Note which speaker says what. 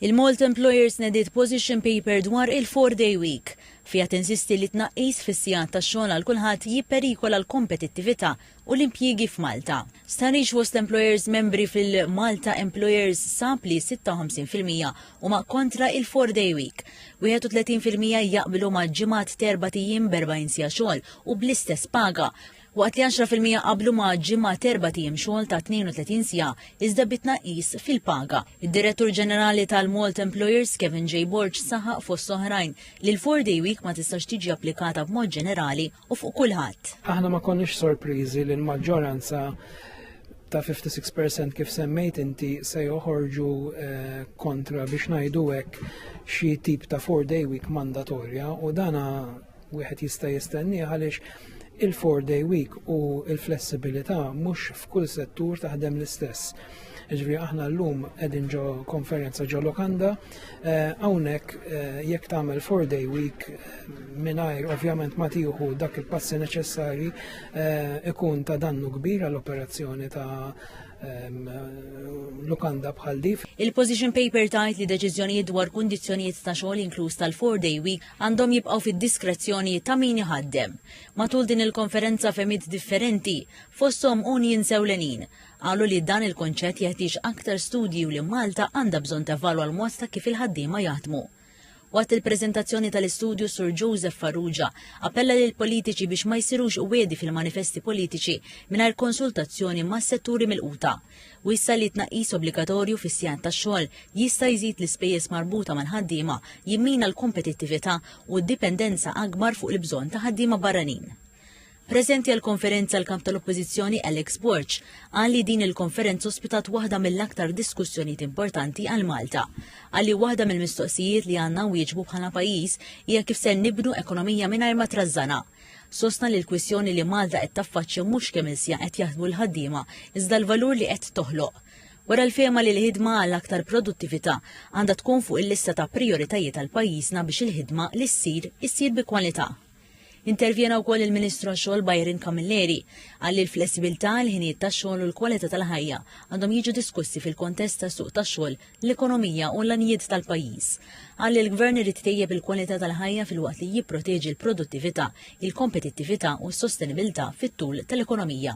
Speaker 1: Il-Malta Employers nediet position paper dwar il-four day week. Fiha tinsisti li tnaqqis fis-sigħat tax-xogħol għal kulħadd jipperikola l-kompetittività u l-impjiegi f'Malta. Stħarriġ fost l-employers membri fil-Malta Employers sab li 56 fil-mija huma kontra il-four day week. 31 fil-mija jaqblu ma' ġimgħat t'erbgħat ijiem b'erbgħin siegħa xogħol u bl-istess paga. waqt li għaxra fil-mija qablu ma' ġimgħa t'erbat ijiem xogħol ta' 32 siegħa iżda bi tnaqqis fil-paga. Id-Direttur Ġenerali tal-Malt Employers, Kevin J. Borg saħaq fost oħrajn li l-four day week ma tistax tiġi applikata b'mod ġenerali u fuq kulħadd. Aħna ma konniex
Speaker 2: sorpriżi li l-maġġoranza ta' 56 percent kif semmejt inti se joħorġu eh, kontra biex ngħidu hekk xi tip ta' four day week mandatorja u dana wieħed jista' jistennieh għaliex il-four day week u il-flessibilità mhux f'kull settur taħdem l-istess. Ġifieri aħna llum qegħdin ġo konferenza ġo Lokanda, eh, hawnhekk eh, jekk tagħmel four day week eh, mingħajr ovvjament ma tieħu dak il-passi neċessarji ikun ta' dannu kbir għall-operazzjoni ta' lukanda bħal dif. Il-position paper
Speaker 1: tajt li deċiżjonijiet dwar kundizzjonijiet ta' xogħol inkluż tal-four day week għandhom jibqgħu fid-diskrezzjoni ta' min iħaddem. Matul din il-konferenza fehmiet differenti, fosthom unions ewlenin, qalu li dan il-kunċett jeħtieġ aktar studji u li Malta għandha bżonn tevalwa l-mod ta' kif il-ħaddiema jaħdmu. Waqt il-preżentazzjoni tal-istudju Sur Joseph Farrugia appella lill-politiċi biex ma jsirux wiegħdi fil-manifesti politiċi mingħajr konsultazzjoni mas-setturi milquta. Wissa li t-tnaqqis obbligatorju fis-sigħat tax-xogħol jista' jżid l-ispejjeż marbuta mal-ħaddiema, jimmina l-kompetittività u d-dipendenza akbar fuq il-bżonn ta' ħaddiema barranin. Preżenti għall-konferenza l-Kap tal-Oppożizzjoni Alex Borg qal li din il-konferenza ospitat waħda mill-aktar diskussjonijiet importanti għal Malta. Qal li waħda mill-mistoqsijiet li għandna nwieġbu bħala pajjiż hija kif ser nibnu ekonomija mingħajr ma trażżana. Sostna li l-kwistjoni li Malta qed taffaċċja mhux kemm il-siegħa qed jaħdmu l-ħaddiema, iżda l-valur li qed toħloq. Wera l-fehma li l-ħidma għal aktar produttività għandha tkun fuq il-lista ta' prijoritajiet għal pajjiżna biex il-ħidma li ssir, issir bi kwalità. Intervjena wkoll il-Ministru għax-Xogħol Byron Camilleri. Qal li l-flessibilità, il-ħinijiet tax-xogħol u l-kwalità tal-ħajja għandhom jiġu diskussi fil-kontest tas-suq tax-xogħol l-ekonomija u l-għanijiet tal-pajjiż. Qal li l-Gvern irid itejjeb il-kwalità tal-ħajja filwaqt li jipproteġi l-produttività, il-kompetittività u s-sostenibilità fit-tul tal-ekonomija.